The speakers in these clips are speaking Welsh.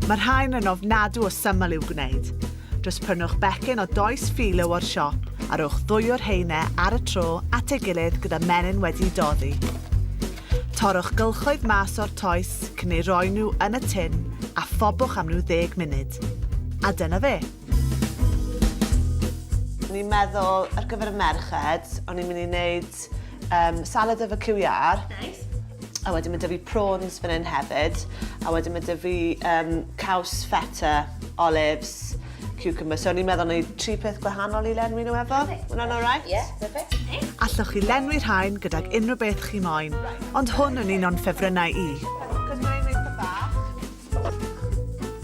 Mae rhain yn ofnadw o syml i'w gwneud. Just prynwch becyn o does philo o'r siop a rhowch ddwy o'r rheine ar y tro at ei gilydd gyda menyn wedi doddi. Torrwch gylchoedd mas o'r toes cyn ei roi nhw yn y tin a phobwch am rhyw ddeg munud. A dyna fe! O'n i'n meddwl ar gyfer y merched o'n i'n mynd i wneud Um, salad efo cyw iar. Nice. A wedyn mae dy fi prawns fan hyn hefyd. A wedyn mae dy fi um, caws feta, olives, cucumber. So ni'n meddwl ni tri peth gwahanol i lenwi nhw efo. Hwna'n alright? Ie, perfect. Allwch chi lenwi rhain gydag unrhyw beth chi moyn, ond hwn yn un o'n ffefrynnau i.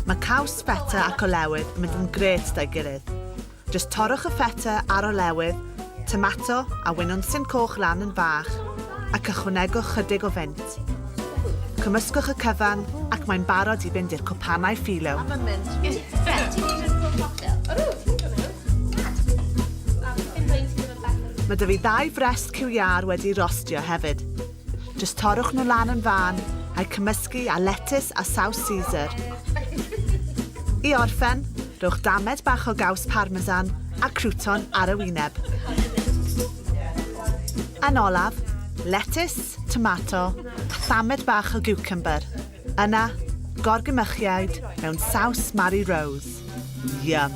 Mae caws feta ac olewydd yn mynd yn gret da'i gilydd. Jyst torrwch y feta a'r olewydd, tomato a winwnsyn coch lan yn fach ac ychwanegwch chydig o fennt. Cymysgwch y cyfan ac mae'n barod i fynd i'r cwpanau philo. Mae 'da fi ddau frest cyw iâr wedi rostio hefyd. Jyst torrwch nhw lan yn fân, a'u cymysgu â letys a saws Caesar. I orffen, rhowch damed bach o gaws parmesan a crouton ar y wyneb. Yn olaf, letys, tomato a thamed bach o giwcymbyr. Yna, gorgymychiaid mewn saws Mari Rose. Yum!